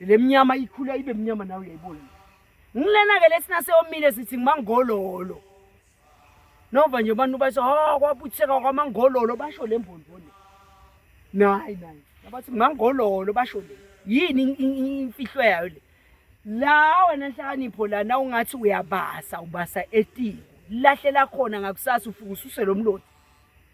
Le mnyama ikhula ibe mnyama nawe uyayibona. Ngilena ke lesina seyomile sithi ngimangololo. Nova nje abantu basho ha kwabutheka kwamangololo basho le mbonbo le. Nayi nayi. Abathi ngimangololo basho le. Yini imfihlo yayo le? La wena nhlakanipho lana ungathi uyabasa ubasa etini. Lahle lakhona ngakusasa ufukususe lo mlotha.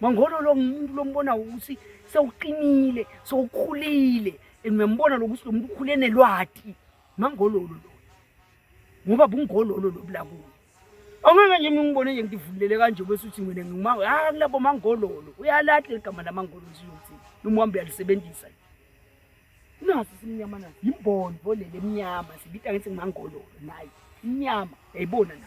Mangolo lo ngumuntu lombona ukuthi sewuqinile, sewukhulile and uyambona lokuthi lo muntu ukhule nelwati. Mangololo lo. Ngoba bungololo lo bulakuwe. Angeke nje mina ngibone nje ngidivulele kanje bese uthi mina ngima ah kulabo mangololo. Uyalahle igama lamangolo nje uthi noma uhambe uyalisebenzisa. Nasi simnyama na. Yimboni volele emnyama sibita ngithi ngimangololo naye. Imnyama yayibona na.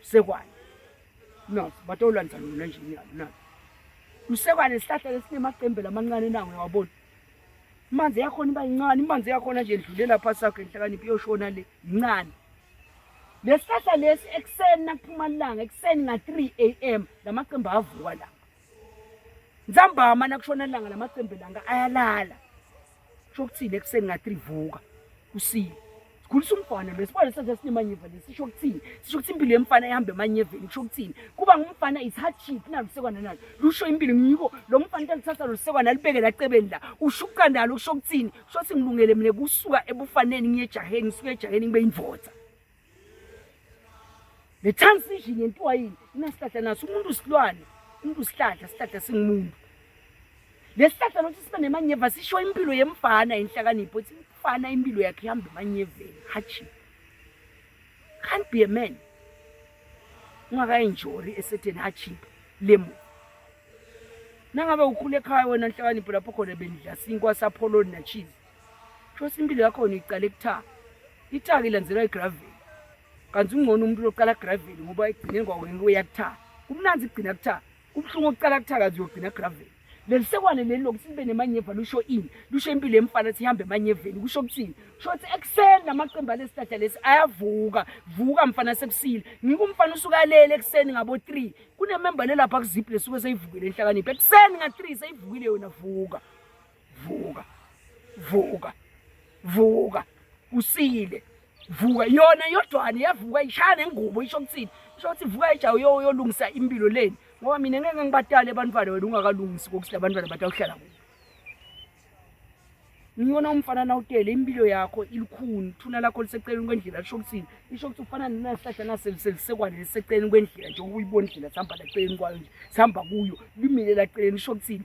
Msekwane. Nazi batolwanisa lona nje niyalo nazi. Msekwane isihlahla lesinemacembela amancane nawo uyawabona. Imanzi yakhona iba incane, imanzi yakhona nje ndlulela phansi sakho enhlakaniphi yoshona le incane. Lesihlahla lesi ekuseni nakuphuma ilanga ekuseni nga 3 am lamacembe avuka la. Nzambama nakushona ilanga lamacembe langa ayalala. shokuthini ekuseni ngathi livuka kusile sikhulisa umfana lo sibone senze sinemanyeva lesi sisho ukuthini sisho ukuthi impilo yemfana ihamba emanyeveni kusho ukuthini kuba ngumfana is hard shit nalo sekwana nalo lusho impilo ngiko lo mfana into lithatha lo sekwana libeke la cebeni la ushuka nalo kusho ukuthini kusho ukuthi ngilungele mina kusuka ebufaneni ngiyejaheni ngisuke ejaheni ngibe indvodza le transition yentiwa yini inasihlahla naso umuntu usilwane umuntu usihlahla sihlahla singumuntu lesihlahla lothi sibe nemanyeva sisho impilo yemfana inhlakanipho ukuthi umfana impilo yakhe ihamba emanyeveni hatshi can't be a man ungakayinjori esetheni hatshi lemu nangabe ukhule ekhaya wena nhlakanipho lapho khona benidla sinkwa sapholoni nachizi Shothi impilo yakhona iqale kuthaka. Ithaka ilandzelwa igraveli. Kanti ungcono umuntu loqala graveli ngoba ekugcineni kwawo ngeke uyakuthaka. Kumnandi kugcina kuthaka. Kubuhlungu ukuqala kuthaka kanti uyogcina graveli. Lelisekwane leli lokuthi libe nemanyeva lusho ini? Lusho impilo yemfana ukuthi ihambe emanyeveni. Kusho ukuthini? Kusho ukuthi ekuseni namaqembu alesihlahla lesi ayavuka. Vuka mfana sekusile. Ngike umfana usuka lele ekuseni ngabo 3. Kunememba lelapha kuziphi lesuke seyivukile enhlakaniphi. Ekuseni nga 3 seyivukile yona vuka. vuka vuka vuka usile vuka yona yodwane yavuka ishaya nengubo isho kuthini isho ukuthi vuka ejawu yolungisa impilo leni ngoba mina ngeke ngibadale abantwana wena ungakalungisi kokuthi labantwana batawuhlala kubo ngiyona umfana nawutele impilo yakho ilikhuni thuna lakho liseceleni kwendlela lisho ukuthini isho ukuthi ufana nesihlahla naselisekwane liseceleni kwendlela njengoba uyibona indlela sihamba laceleni kwayo nje sihamba kuyo limile laceleni isho ukuthini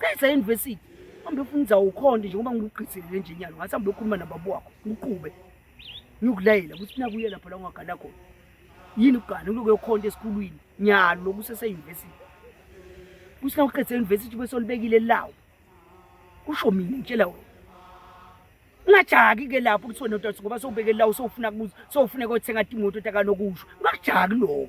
qeda university hambe ufuna inzawo ukhonde njengoba ngikuqiselele nje nyalo ngathi hambe ukhuluma nababa wakho uqube ngiyokulayela ukuthi nakuye lapho la ungagana khona yini ukugana uloku yokhonda esikhulwini nyalo loku useseyunivesithi kuthi na uqeda eyunivesithi ube solibekile lawo kusho mina ngitshela wena ungajaki ke lapho ukuthi wena utathu ngoba sowubeke lawo sowufuna kuze sowufuna kothenga imoto takanokusho ungakujaki lokho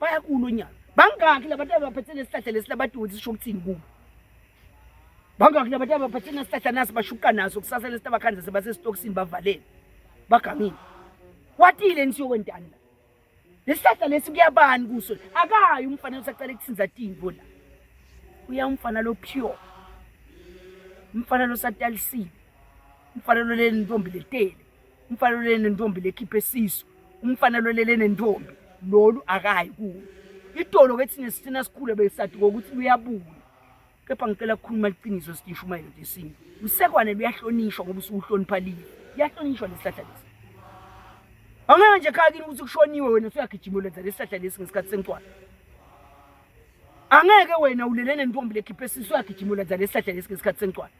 bayakulo nyaka bangaki labantu abaphethe nesihlahla lesi labadoti sisho ukuthini kubo bangaki labantu abaphethe nesihlahla nasi bashuka naso kusasa lesi tabakhanza sebasesitokisini bavalele bagamile kwatile nisiyokwentani la lesihlahla lesi kuyabani kuso akayi umfana usacela kuthinza timbo la uya umfana lo pure umfana lo satalisiwe umfana lo leli ntombi letele umfana olele nentombi lekhiphe siso umfana lolele nentombi lolu akayi kuwo itolo ke thina sithina sikhule besati kokuthi luyabuya kepha ngicela kukhuluma iqiniso sitisho uma yinto yesintu usekwane luyahlonishwa ngoba usuhlonipha liyo liyahlonishwa lesihlahla lesi angeke nje khaya kini ukuthi kushoniwe wena usuyagijima ulenza lesihlahla lesi ngesikhathi sencwadi angeke wena ulele nentombi lekhiphe siso uyagijima ulenza lesihlahla lesi ngesikhathi sencwadi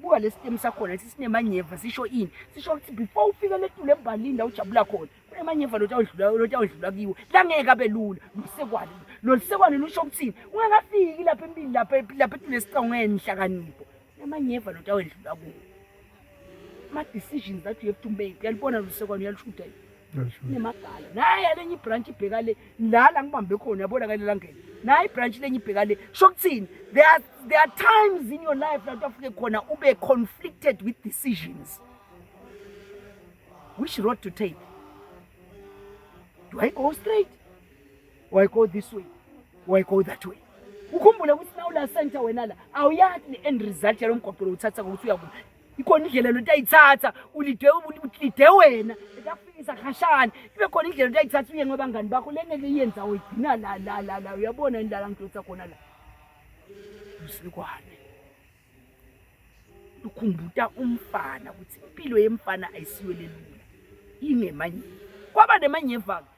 buka lesi temu sakhona lesi sinemanyeva sisho ini sisho ukuthi before ufike letule embalini la ujabula khona kunemanyeva lotawudlula lotawudlula kiwo langeke abe lula lusekwane lolu sekwane lusho ukuthini ungakafiki lapha empini lapha lapha etule sicongene nihlakanipho kunemanyeva lotawendlula kuwo ama-decisions that you have to make uyalibona lusekwane uyalushuda yini nemagala naye alenye ibranch ibheka le lala ngibambe khona yabona kale langeni naye ibranch lenye ibheka le sho kuthini there are, there are times in your life lapho afike khona ube conflicted with decisions which road to take do i go straight or i go this way or i go that way ukhumbule ukuthi nawula center wena la awuyathi ne-end result yalo mgwaqo lowuthatha kokuthi uyakuba ikhona indlela lento ayithatha ulide ulide wena etakufikisa khashana ibe khona indlela lento ayithatha uye ngabangani bakho le ngeke iyenza uyigcina la la la la uyabona yini lala ngidonsa khona la usilikwane lukhumbuta umfana ukuthi impilo yemfana ayisiwelelula ingemanyeva kwaba nemanyeva-ke